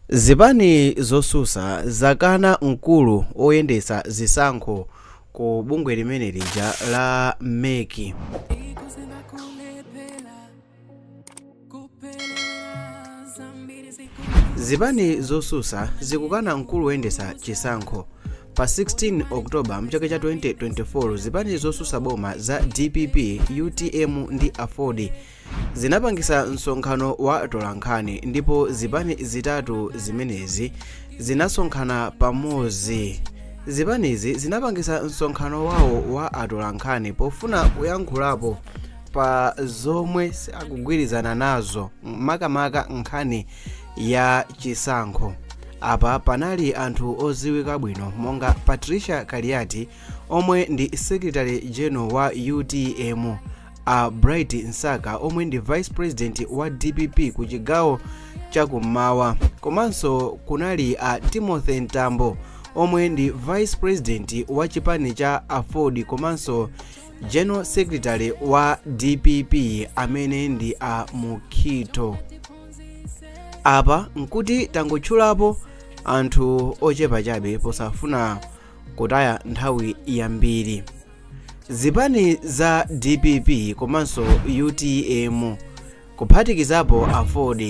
Zipani zosusa zakana mkulu oyendesa zisankho ku bungwe limene lija la mec. Zipani zosusa zikukana mkulu oyendesa chisankho pa 16 October mchaka cha 2024 zipani zosusa boma za dpp, utm ndi aford zinapangisa msonkhano wa atolankhani ndipo zipani zitatu zimenezi zinasonkhana pamozi zipanizi zinapangisa msonkhano wawo wa atolankhani pofuna kuyankhulapo pa zomwe sakugwirizana nazo makamaka nkhani ya chisankho apa panali anthu oziwika bwino monga patricia kaliati omwe ndi secretary general wa utm a bright msaka omwe ndi vice president wa dpp ku chigawo chakummawa komanso kunali a timothy mtambo omwe ndi vice president wa chipani cha aford komanso general secretary wa dpp amene ndi a mukhito apa nkuti tangotchulapo anthu ochepa chabe posafuna kutaya nthawi yambiri Zipani za dpp komanso utm kuphatikizapo aford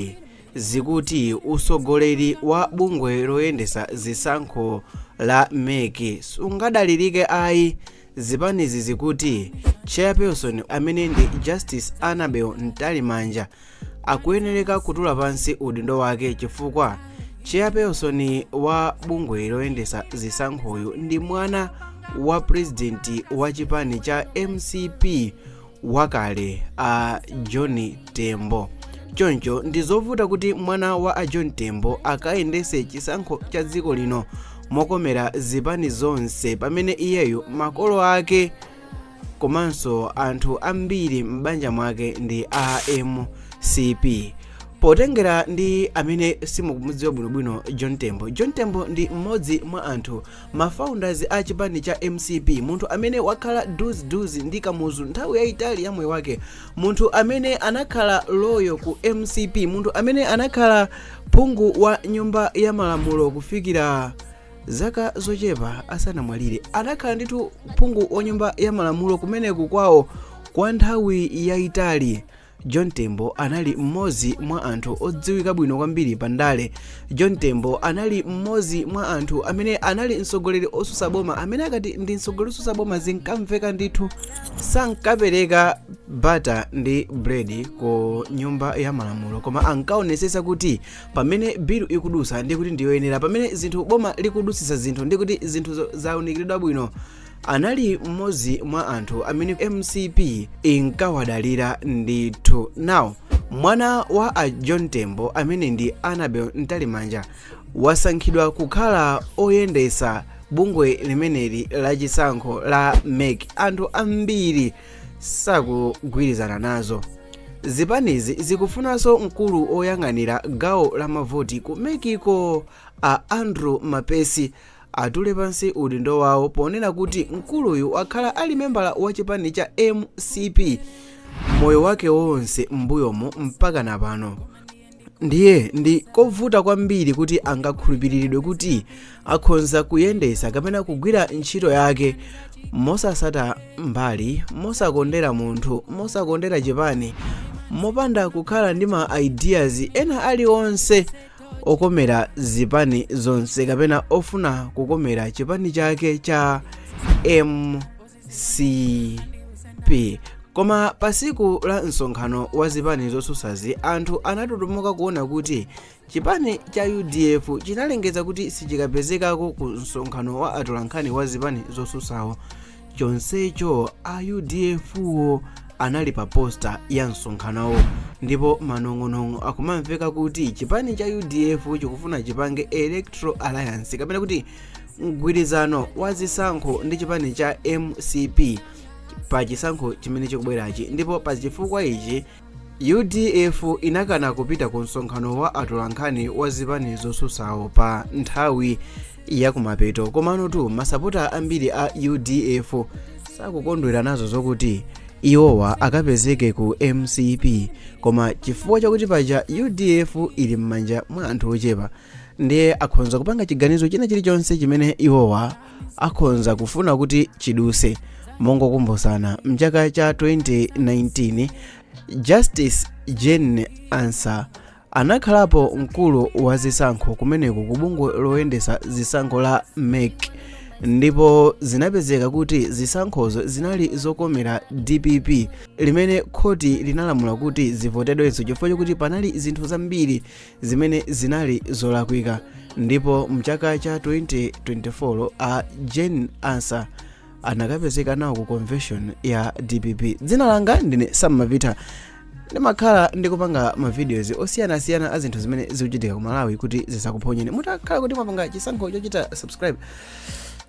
zikuti usogoleri wa bungwe loyendesa zisankho la mec sungadalirike ayi zipanizi zikuti chairperson amene ndi justice annabel mtalimanja akuyenereka kutula pansi udindo wake chifukwa chairperson wa bungwe loyendesa zisankhoyu ndi mwana wa purezidenti wa chipani cha mcp wakale a john tembo choncho ndi zovuta kuti mwana wa a john tembo akayendese chisankho cha dziko lino mokomera zipani zonse pamene iyeyo makolo ake komanso anthu ambiri m'banja mwake ndi a mcp potengera ndi amene simukumudziwa bwinobwino john tembo john tembo ndi mmodzi mwa anthu mafounders a chipani cha mcp munthu amene wakhala duziduzi ndi kamuzu nthawi yayitali ya moyo wake munthu amene anakhala loyal ku mcp munthu amene anakhala phungu wa nyumba ya malamulo kufikira zaka zochepa asanamwalire anakhala ndithu phungu wa nyumba ya malamulo kumeneko kwawo kwa nthawi yayitali john tembo anali mmodzi mwa anthu odziwika bwino kwambiri pa ndale john tembo anali mmodzi mwa anthu amene anali mtsogoleri osusa boma amene akati ndi mtsogoleri osusa boma zinkamveka ndithu sankapereka butter ndi bread ku nyumba ya malamulo koma ankaonesesa kuti pamene bill ikudusa ndiye kuti ndiyoyenera pamene zinthu boma likudutsitsa zinthu ndiye kuti zinthuzo zaunikiridwa bwino anali mmodzi mwa anthu amene mcp inkawadalira ndithu nawo mwana wa a john tembo amene ndi annabel mtalimanja wasankhidwa kukhala oyendesa bungwe limeneli la chisankho la mec anthu ambiri sakugwirizana nazo zipanizi zikufunanso mkulu oyang'anira gawo la mavoti ku mec ko a andrew mpesi atule pansi udindo wawo ponena kuti mkuluyu wakhala ali membala wa chipani cha mcp moyo wake wonse m'mbuyomo mpaka na pano ndiye ndi kovuta kwambiri kuti angakhulupiriridwe kuti akhonza kuyendetsa kapena kugwira ntchito yake mosasata mbali mosakondera munthu mosakondera chipani mopanda kukhala ndi ma ideas ena aliwonse okomera zipani zonse kapena ofuna kukomera chipani chake cha mcp mcp koma pa siku la msonkhano wa zipani zosusazi anthu anatutumuka kuona kuti chipani cha udf chinalengeza kuti sichikapezekako ku msonkhano wa atolankhani wa zipani zosusawo chonsecho a udf wo anali pa posta ya msonkhanowo ndipo manong'onong'o akumamveka kuti chipani cha udf chikufuna chipange electoral alliance kapena kuti mgwirizano wa zisankho ndi chipani cha mcp pa chisankho chimene chikubwerachi ndipo pa chifukwa ichi udf inakana kupita ku msonkhano wa atolankhani wa zipani zosusawo pa nthawi yakumapeto komano tu masapota ambiri a udf sakukondwera nazo zokuti iwowa akapezeke ku mcp koma chifukwa chakuti paja udf ili m'manja mwa anthu ochepa ndiye akhonza kupanga chiganizo china chilichonse chimene iwowa akhonza kufuna kuti chiduse mongokumbutsana mchaka cha 2019 justice jane ansah anakhalapo mkulu wa zisankho kumeneku ku bungwe loyendesa zisankho la mec ndipo zinapezeka kuti zisankhozo zinali zokomera dpp limene khoti linalamula kuti zivotedwenso chifukwa chokuti panali zinthu zambiri zimene zinali zolakwika ndipo mchaka cha 2024 a jane ansah anakapezeka nawo ku convention ya dpp dzina langa ndine sam mapita ndimakhala ndikupanga mavideos osiyanasiyana a zinthu zimene zikuchitika ku malawi kuti zisakuphonyeni mutakhala kuti mwapanga chisankho chochita subscribe